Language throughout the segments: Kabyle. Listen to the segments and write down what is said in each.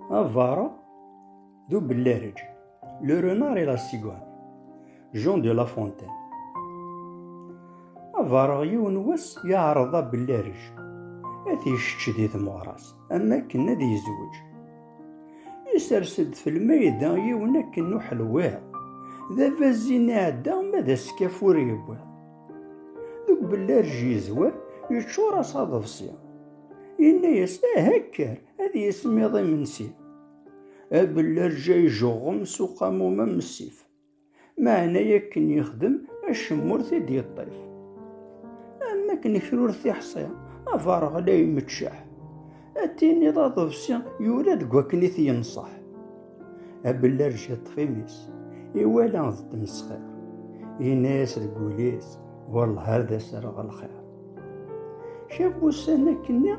Avara d ubellarij, le renard et la cigogne, Jean de La Fontaine. Avara yiwen wass yeɛreḍ abellarij ad t-yečč di tmeɣra-s am akken ad yezweǧ. Isers-d f lmayda yiwen akken n uḥelwiḍ, d abazin iɛedda ma d askaf ur yewwiḍ. Deg ubellarij yezwar yeččur-as aḍebsi. Yenna-yas, aha kker, ad yismiḍ imensi. Abellarǧa ijeɣɣem s uqamum am ssif, meɛna akken yexdem acemma ur t-id-yeṭṭif. Am wakken kra ur t-iḥṣi, abareɣ la imeččeḥ, ad tiniḍ aḍebsi yura deg wakken i t-yenṣeḥ. Abellarj iṭṭef imi-s, iwala d tmesxir, yenna-yas deg wul-is, wallah ad as-rreɣ lxir. Cab ussan akkenni,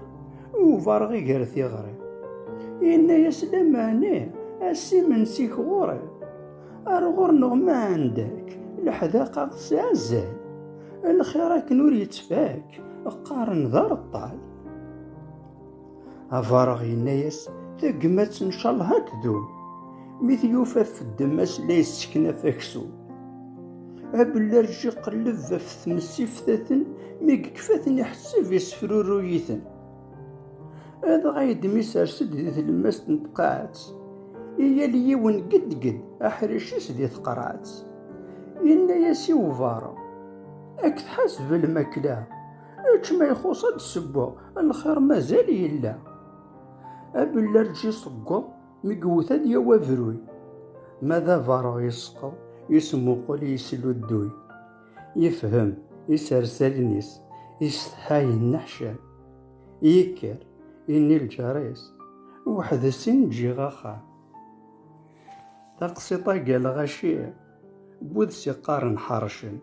ubareɣ gar tiɣri, yenna-yas lamani, ass imensi-k ɣur-i, ar ɣur-neɣ ma ɛendak, leḥdaqa tesɛa azal, lxir akken ur yettfak, qqaren d areṭṭal. Abareɣ yenna-yas, tagmat n calha ad tdum. Mi t-yufa feddem-as la yesseknaf aksum. Abellarj iqelleb ɣef tmes iftaten, mi yekfa-ten iḥesseb yessefruruy-iten. Adɣa yedem isers-d di tlemmast n tqaɛet, i yal yiwen geddgedd aḥric-is di tqerɛet. Yenna-yas i ubareɣ, Ad k-tḥaseb lmakla. Ečč ma ixuṣ ad d-ssewweɣ, lxir mazal yella. Abellarǧ iṣeggeḍ, mi iwwet ad yawi abruy. Ma d abareɣ yesqeḍ, yesmuqul yesludduy. Yefhem isers allen-is, isetḥa yenneḥcam. Yekker, yenni lǧar-is, weḥd-s i n-ǧǧiɣ axxam. Taqsiṭ-agi a lɣaci, bu-d s iqqaren ḥercen.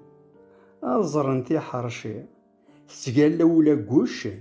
Ad ẓren tiḥerci tettgalla ula deg wuccen.